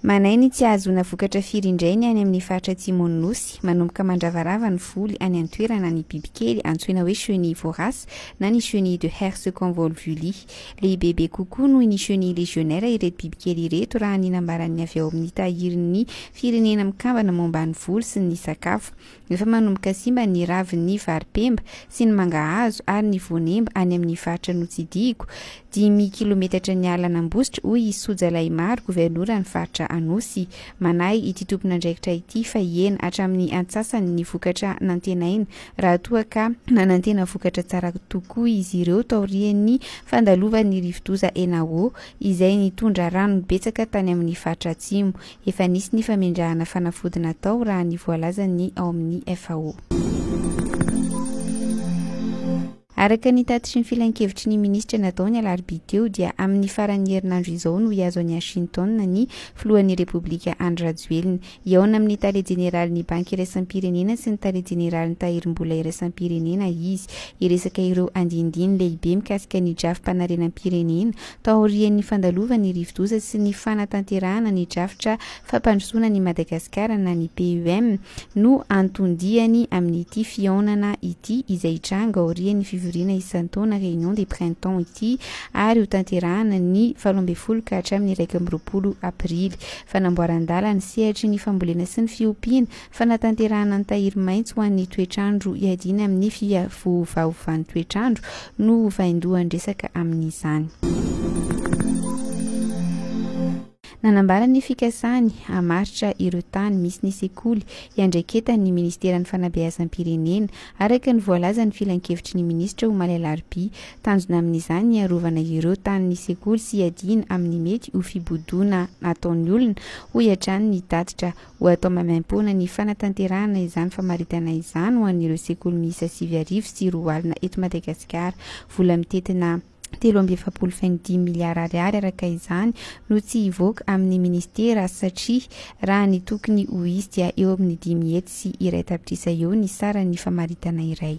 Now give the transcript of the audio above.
Manahy ny tsy hahazoana vokatra firy indray ny any amin'ny faritra atsimon'ny Nosy. Manomboka mandravarava ny voly any an-toerana ny bibikely antsoina hoe chenille vorace na ny chenille de Herse convolvuli. Lehibebe kokoa noho ny chenille légionnaire ireto bibikely ireto raha ny nambaran'ny avy ao amin'ny Tahirin'ny Firenena Mikambana Momba ny Voly sy ny Sakafo, Efa manomboka simba ny ravin'ny varipemba sy ny mangahazo ary ny voanemba any amin'ny faritra notsidihiko, dimy kilometatra niala an'Ambositra, hoy i Soja Lahimaro, governoran'ny faritra Anosy. Manahy ity tompon'andraikitra ity fa hihena hatramin'ny antsasany ny vokatra nantenaina raha toa ka nanantena vokatra tsara tokoa izy ireo taorian'ny fandalovan'ny rivodoza Enawo izay nitondra rano betsaka tany amin'ny faritra Atsimo. Efa nisy ny famendrahana fanafody natao raha ny voalazan'ny ao amin'ny FAO. Araka ny tatitry ny filankevitry ny minisitra natao ny alarobia teo dia amin'ny faran'ny herinandro izao no hihazo an'i Washington ny filohan'ny Repoblika Andry Rajoelina, hihaona amin'ny tale jeneralin'ny Banky iraisam-pirenena sy ny tale jeneralin'ny Tahirimbola iraisam-pirenena izy, hiresaka ireo andinindiny lehibe mikasika ny drafi-panarenam-pirenena taorian'ny fandalovan'ny rivodoza sy ny fanatanterahana ny drafitra fampandrosoana an'i Madagasikara na ny PEM no anton-diany amin'ity fihaonana ity izay hitranga aorian'ny fivoriana isan-taona Réunion des Printemps ity ary hotanterahana ny valo ambin'ny folo ka hatramin'ny iraika amby roapolo Aprily. Fanamboaran-dàla ny sehatry ny fambolena sy ny fiompiana, Fanatanterahana ny tahiry maitso ho an'ny toetr'andro hiadiana amin'ny fiavovaovan'ny toetr'andro no ho vaindohan-dresaka amin'izany. Nanambara ny fikasany hamaritra ireo tany misy ny sekoly hiandraiketany ny Ministeran'ny Fanabeazam-pirenena, araka ny voalazan'ny Filankevitry ny Minisitra omaly alarobia. Tanjona amin'izany ny hiarovana ireo tanin'ny sekoly sy hiadiana amin'ny mety ho fibodoana ataon'ny olona, hoy hatrany ny tatitra Ho atao maimaimpoana ny fanatanterahana izany famaritana izany ho an'ireo sekoly miisa sivy arivo sy roa alina eto Madagasikara. Vola mitentina telo amby efapolo faingo dimy miliara ariary araka izany no tsy hivoaka amin'ny ministera satria raha ny tokony ho hisy dia eo amin'ny dimy hetsy sy iray tapitrisa eo ny saran'ny famaritana iray